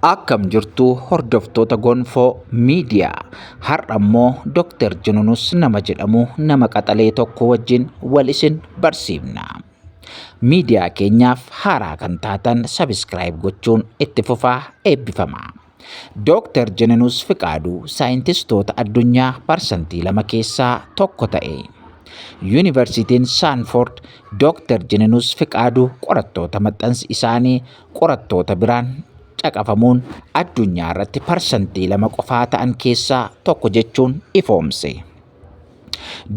Akkam jirtu hordoftoota gonfoo miidiyaa har'a immoo Dr. Jununus nama jedhamu nama qaxalee tokko wajjin wal isin barsiifna. Miidiyaa keenyaaf haaraa kan taatan sabiskiraayib gochuun itti fufaa eebbifama. Dr. Jununus Fiqaaduu saayintistoota addunyaa parsantii lama keessaa tokko ta'e. Yuunivarsiitiin Saanford Dr. Jununus Fiqaaduu qorattoota maxxansi isaanii qorattoota biraan caqafamuun addunyaa irratti parsantii lama qofaa ta'an keessaa tokko jechuun ifoomse.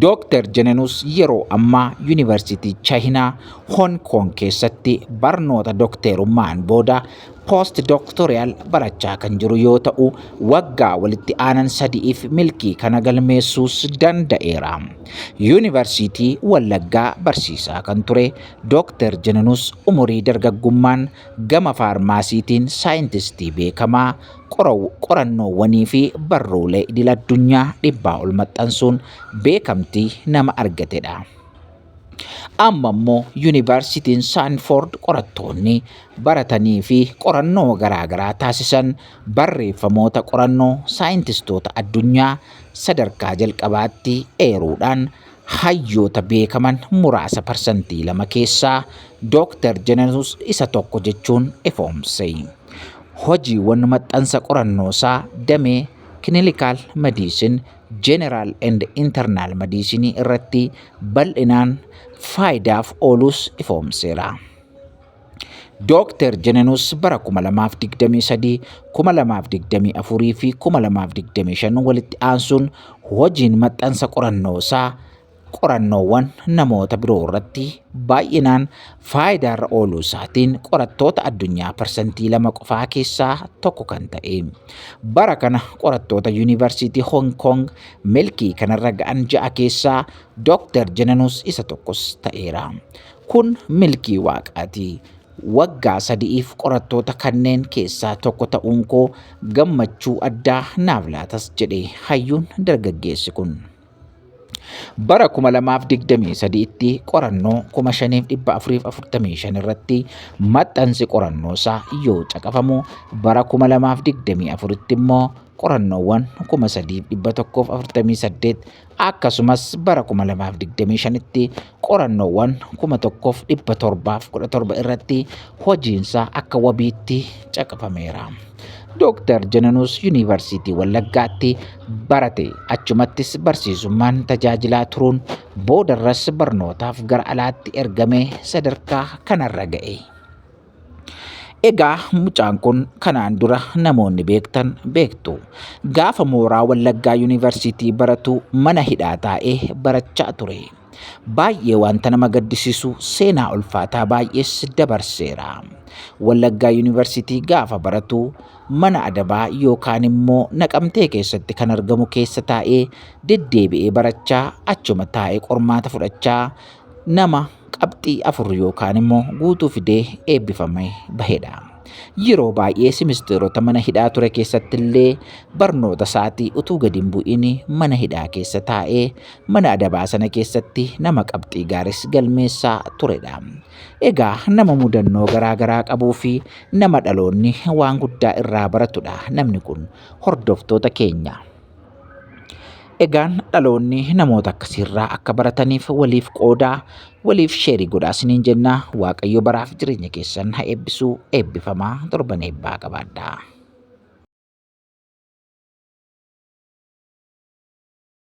Dooktar Jenenus yeroo ammaa Yuunivarsiitii Chaayinaa Hong Kong keessatti barnoota dookteerummaan booda poost dooktoriyaal barachaa kan jiru yoo ta'u waggaa walitti aanan sadi'iif milkii kana galmeessuus danda'eera. Yuunivarsiitii Wallaggaa barsiisaa kan ture Dooktar Jenenus umurii dargaggummaan gama faarmaasiitiin saayintistii beekamaa, qorannoowwanii fi barruulee idil-addunyaa dhibbaa ol maxxansuun beekamtii nama argatedha. Amma immoo Yuunivarsiitiin Saanfoord qorattoonni baratanii fi qorannoo garaagaraa taasisan barreeffamoota qorannoo saayintistoota addunyaa sadarkaa jalqabaatti eeruudhaan Hayyoota beekaman muraasa parsantii lama keessaa Dooktar Jenenus isa tokko jechuun ifoomse. Hojiiwwan maxxansa qorannoosaa damee Clinical Medicine, General and Internal Medicine irratti bal'inaan faayidaaf ooluus ifoomseera. Dooktar Jenenus bara 2023, 2024 fi 2025 walitti aansuun hojiin maxxansa qorannoo isaa qorannoowwan namoota biroo irratti baay'inaan faayidaarra ooluu isaatiin qorattoota addunyaa parsantii lama qofaa keessaa tokko kan ta'e. Bara kana qorattoota Yuunivarsiitii Hong Kong milkii kanarra ga'an ja'a keessaa Dooktar Jenenus isa tokkos ta'eera. Kun milkii Waaqaati. Waggaa sadi'iif qorattoota kanneen keessaa tokko ta'uun koo gammachuu addaa naaf laatas jedhe hayyuun dargaggeessi kun. Bara 2023tti qorannoo 5445 irratti maxxansi qorannoo isaa yoo caqafamu bara 2024tti immoo qorannoowwan 3148 Akkasumas bara 2025tti qorannoowwan 1717 irratti hojiinsaa akka wabiitti caqafameera. Dooktar Jananuus Yuunivarsiitii Wallaggaatti barate achumattis barsiisummaan tajaajilaa turuun boodarras barnootaaf gara alaatti ergamee sadarkaa kanarra ga'e. Egaa mucaan kun kanaan dura namoonni beektan beektu. Gaafa mooraa Wallaggaa Yuunivarsiitii baratu mana hidhaa taa'ee barachaa ture. Baay'ee wanta nama gaddisiisu seenaa ulfaataa baay'ees dabarseera. Wallaggaa Yuunivarsiitii gaafa baratu mana adabaa yookaan immoo naqamtee keessatti kan argamu keessa taa'ee deddeebi'ee barachaa achuma taa'ee qormaata fudhachaa nama qabxii afur yookaan immoo guutuu fidee eebbifamee bahedha. Yeroo baay'ee simisteerota mana hidhaa ture keessatti illee barnoota isaatii utuu gadi hin bu'in mana hidhaa keessa taa'ee mana adabaa sana keessatti nama qabxii gaaris galmeessaa turedha. Egaa nama mudannoo garaa garaa qabuu fi nama dhaloonni waan guddaa irraa baratudha namni kun hordoftoota keenya. Egaan dhaloonni namoota akkasiirraa akka barataniif waliif qoodaa waliif sheerii godhaa isiniin jenna waaqayyo baraaf jireenya keessan ha eebbisuu eebbifamaa torban eebbaa qabaadhaa.